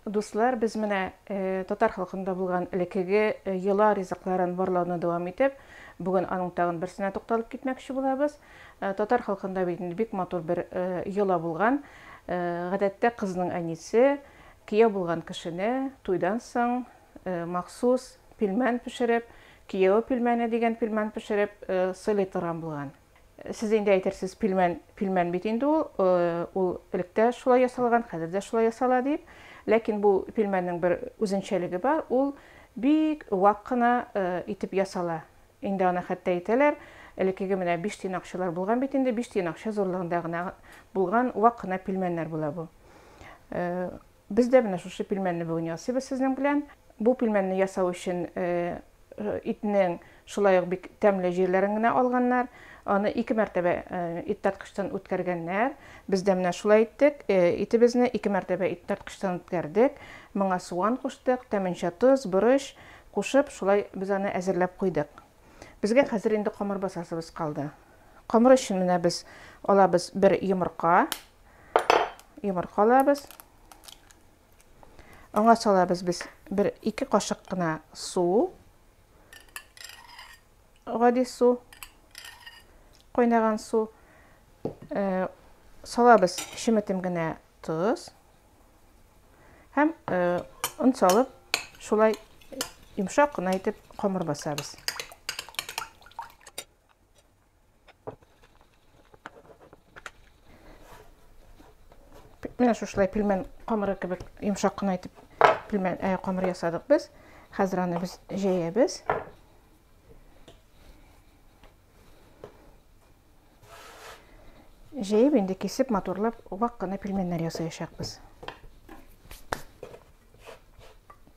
Дуслар, без менә татар халкында булган элеккеге йола ризыкларын барлауны дәвам итеп, бүген аның тагын берсенә тукталып китмәкче булабыз. Татар халкында бит инде бик матур бер йола булган. Гадәттә кызның әнисе кияү булган кешене туйдан соң махсус пилмән пешереп, кияү пилмәне дигән пилмән пешереп сыйлый торган булган. Сез инде әйтерсез пилмән, пилмән бит инде ул, ул элек тә шулай ясалган, хәзер дә шулай ясала дип. Ләкин бу пилмәннең бер үзенчәлеге бар, ул бик вак кына итеп ясала. Инде аны хәтта әйтәләр, элеккеге менә биш тиен акчалар булган бит инде, биш тиен акча зурлыгында гына булган вак кына пилмәннәр була бу. Без дә менә шушы пилмәнне бүген ясыйбыз сезнең белән. Бу пилмәнне ясау өчен итнең шулай ук бик тәмле җирләрен генә алганнар. Аны ике мәртәбә ит тарткычтан үткәргәннәр. Без дә менә шулай иттек. Итебезне ике мәртәбә ит тарткычтан үткәрдек. Моңа суган куштык, тәменчә тоз, борыч кушып, шулай без аны әзерләп куйдык. Безгә хәзер инде камыр басасыбыз калды. Камыр өчен менә без алабыз бер йомырка. Йомырка алабыз. Аңа салабыз без бер ике кашык кына су. Гади су. Кайнаган су. Э, салабыз шеметем генә тоз. Һәм э, он салып, шулай йомшак кына итеп камыр басабыз. Менә шушылай пилмән камыры кебек йомшак кына итеп пилмән ә, камыр ясадык без. Хәзер аны без җәябез. Җәеп инде кисеп матурлап вак кына пилмәннәр ясаячакбыз.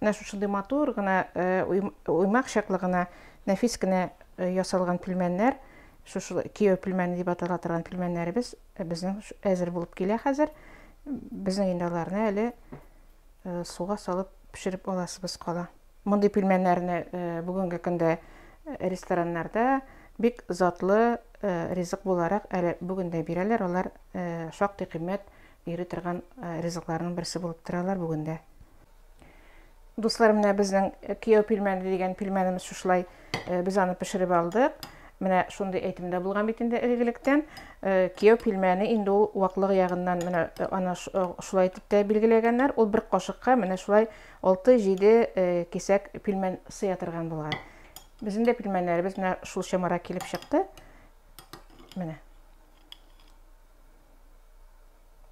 Менә шушындый матур гына уймак чаклы гына нәфис кенә ясалган пилмәннәр, шушы кияү пилмәне дип атала торган пилмәннәребез безнең әзер булып килә хәзер. Безнең инде аларны әле суга салып пешереп аласыбыз кала. Мондый пилмәннәрне бүгенге көндә рестораннарда бик затлы ризык буларак әле бүген дә бирәләр. Алар шактый кыйммәт Йөри торган ризыкларның берсе булып торалар бүген дә. Дуслар, менә безнең кияү пилмәне дигән пилмәнебез шушылай. Без аны пешереп алдык. Менә шундый әйтем дә булган бит инде элегелектән. Кияү пилмәне инде ул ваклыгы ягыннан менә аны шулай итеп тә билгеләгәннәр. Ул бер кашыкка менә шулай 6-7 кисәк пилмән сыя торган булган. Безнең дә пилмәннәребез менә шул чамара килеп чыкты. Менә.